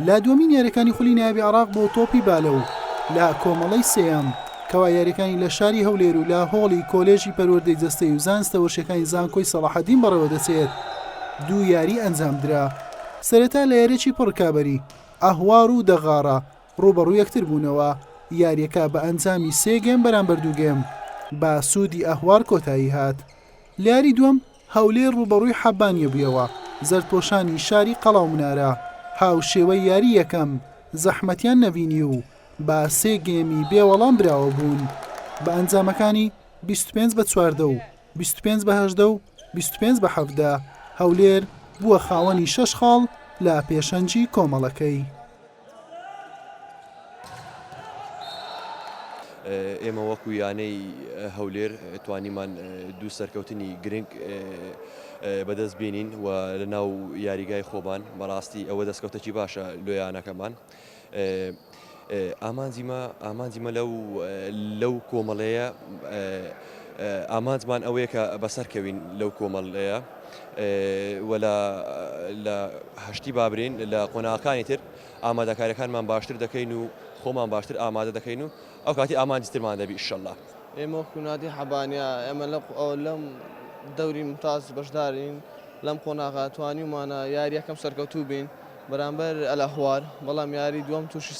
لە دووەمین یاریەکانی خولی نایابی عراق بۆ تۆپی بالە و لە کۆمەڵەی سێیەم کەوا یاریەکانی لە شاری هەولێر و لە هۆڵی کۆلێژی پەروەردەی جەستەی و زانستە وەرشەکانی زانکۆی سەڵاحەدین بەڕێوە دەچێت دوو یاری ئەنجام درا سەرەتا لە یاریی پڕکابەری ئەهوار و دەغاڕە ڕوبەڕوو یەکتر بوونەوە یاریەکە بە ئەنجامی سێگەم بەرامبەر دووگەم بە سوودی ئەهوار کۆتایی هات لاری دووەم هەولێر رووبەڕووی حەبانیە بوویەوە، زەردپۆشانی شاری قەڵاومنارە هاوشێوەی یاری یەکەم زەحمەتیان نەبینی و بە سێ گێمی بێ وەڵام براوە بوون بە ئەنجامەکانی بیست و پێنج بە چواردە و بیست و پێنج بە هەژدە و بیست و پێنج بە حەڤدە، هەولێر بووە خاوەنی شەش خاڵ لە پێشەنگی کۆمەڵەکەی. ئێمە وەکو یانەی هەولێر توانیمان دوو سەرکەوتنی گرنگ بەدەست بینین و لە ناو یاریگای خۆبان بەڕاستی ئەوە دەستکەوتەکی باشە لۆیانەکەمان. ئامانجیمە ئامانجیمە لەو لەو کۆمەڵەیە ئامانجمان ئەوەیە کە بەسەرکەوین لەو کۆمەڵەیە. و لە لە هەشتی بابرین لە قۆناغەکانی تر ئامادەکاریەکانمان باشتر دەکەین و خۆمان باشتر ئامادە دەکەین و ئەو کاتی ئامانجی ترمان دەبی ئیشەڵا. ئێمە وەکو نادی حەبانیا ئێمە لە لەم دەوری ممتاز بەشدارین لەم قۆناغە توانیومانە یاری یەکەم سەرکەوتوو بین بەرامبەر ئەلەهوار بەڵام یاری دووەم تووشی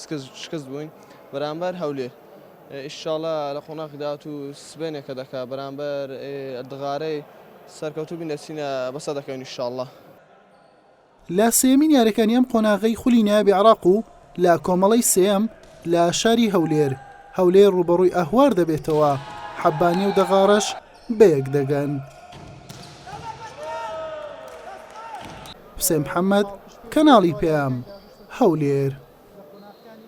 شکست بووین بەرامبەر هەولێر ئیشاڵا لە قۆناخی داهاتوو سبەینێکە دەکا بەرامبەر ئەردغارەی سەرکەوتوو بین دەچینە بەسە دەکەوین ئیشاڵا. لە سێیەمین یاریەکانی ئەم قۆناغەی خولی نایابی عراق و لە کۆمەڵەی سێیەم لە شاری هەولێر هەولێر رووبەڕووی ئەهوار دەبێتەوە حەبانێ و دەغاڕەش بەیەک دەگەن. حوسێن محەمەد، کەناڵی پەیام، هەولێر.